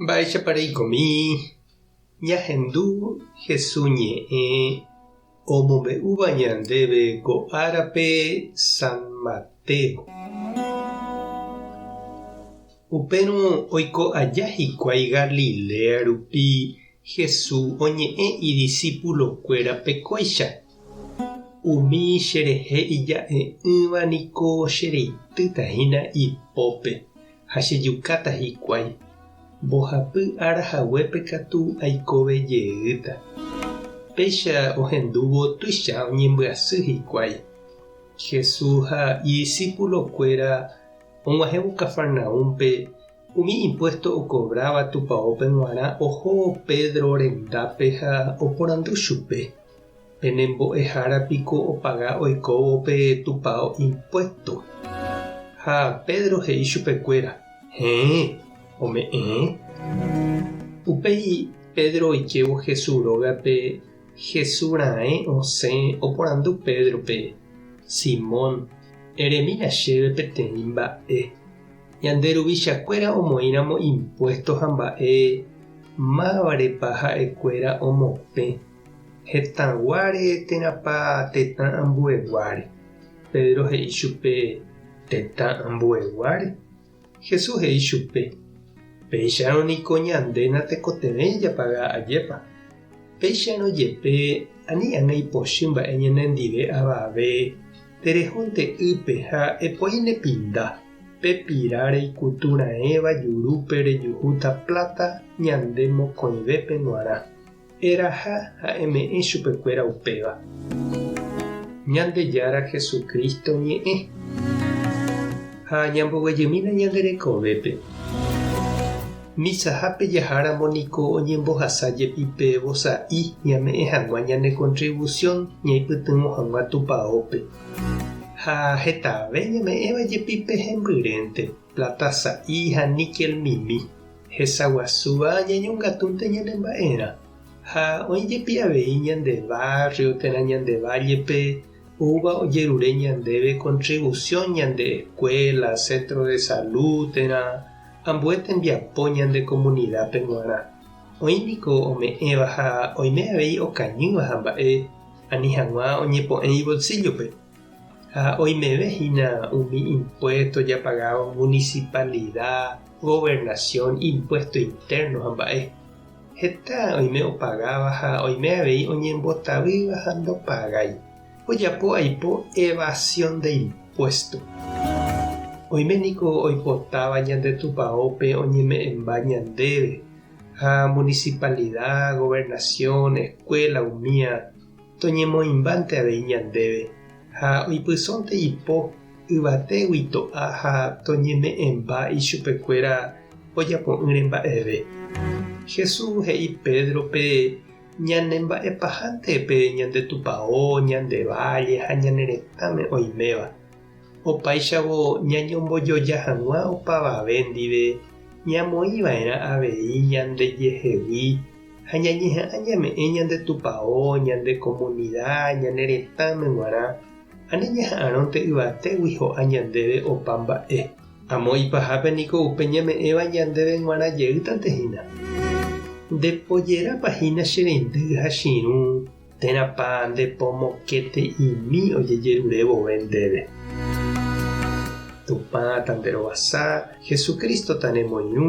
Mba'éichapa reikomi ñahendu Jesús ñe'ẽ omombe'úva ñandéve ko árape San Mateo? Upérõ oiko aja hikuái Galilea rupi, Jesús oñe'ẽ idisipulokuérape kóicha, Umi cherehe ija'e'ỹva niko chereitýta hína ipópe, ha chejukáta hikuái, mbohapy ára haguépe katu aikove jeýta. Péicha ohendúvo tuicha oñembyasy hikuái. Jesús ha idisípulokuéra og̃uahẽvo Cafarnaúmpe, umi impuésto okovráva tupaópe g̃uarã oho Pedro rendápe ha oporandu chupe. Pene mbo'ehára piko opaga oikóvo pe tupao impuesto. Ha Pedro he'i chupekuéra, Heẽ, ome'ẽe. Upéi Pedro oikévo Hesu rógape Hesu raẽ osẽ oporandu Pedrope, Simón, eremína chéve peteĩ mba'e. Ñande ruvichakuéra omoĩramo impuesto ha mba'e, mávare pa ha'ekuéra omopẽ? Hetãguáre térãpa tetã ambueguáre? Pedro he'i chupe, Tetã ambueguáre. Jesús he'i chupe, Péicharõ niko ñande natekotevẽi japaga ajépa. Péicharõ jepe, ani ág̃a ipochy mba'e ñanendive avave, terehónte ýpe ha epoi nepinda, pe pira reikutu raẽva jurúpe rejuhúta pláta ñande mokõivépe g̃uarã. Eraha ha eme'ẽ chupekuéra upéva. Ñandejára Jesucristo ñe'ẽ. Ha ñamboguejymína ñande rekovépe. Misahápe jaháramo niko oñembohasa jepi pe vosa'i ñame'ẽ hag̃ua ñane contribución ñaipytyvõ hag̃ua Tupaópe. Ha hetave ñame'ẽva jepi pe hembyrénte, plata sa'i ha níquel mimi. Hesaguasúva ñañongatúnte ñane mba'erã, ha oĩ jepi avei ñande barrio térã ñande valle-pe oúva ojerure ñandéve contribución ñande escuela, centro de salud térã ambue tembiapo ñande comunidad-pe g̃uarã. Oĩ niko ome'ẽva ha oime avei okañýva ha mba'e ani hag̃ua oñepo'ẽ ibolsillo-pe. Ha oimeve hína umi impuesto japagávo municipalida, gobernación, impuesto interno ha mba'e. Heta oime opagáva ha oime avei oñembotavýva ha ndopagái. Ojapo aipo evasión de impuesto. Oime niko oipotáva ñande tupaópe oñeme'ẽmba ñandéve ha municipalida, gobernación, escuela umía Toñemoĩmbánte avei ñandéve ha oipysónte ipo yvatégui to'a ha toñeme'ẽmba ichupekuéra ojapo'ỹre mba'eve. Jesús he'i Pédrope ñanemba'epahánte pe ñande tupao, ñande válle ha ñane retãme oiméva. Opáichavo ñañombojoja hag̃ua opavave ndive ñamoĩva'erã avei ñandejehegui ha ñañeha'ã ñame'ẽ ñande tupao, ñande komunida, ñane retãme g̃uarã, ha neñeha'ãrõnte yvatégui ho'a ñandéve opa mba'e. Amo ipahápe niko upe ñame'ẽva ñandéve g̃uarã jeýtante hína. Ndepojerápa hína che rendy ha chirũ térãpa nde pomokete'imi ojejerure vove ndéve. Tupã ta nderovasa, Jesucristo ta nemoirũ.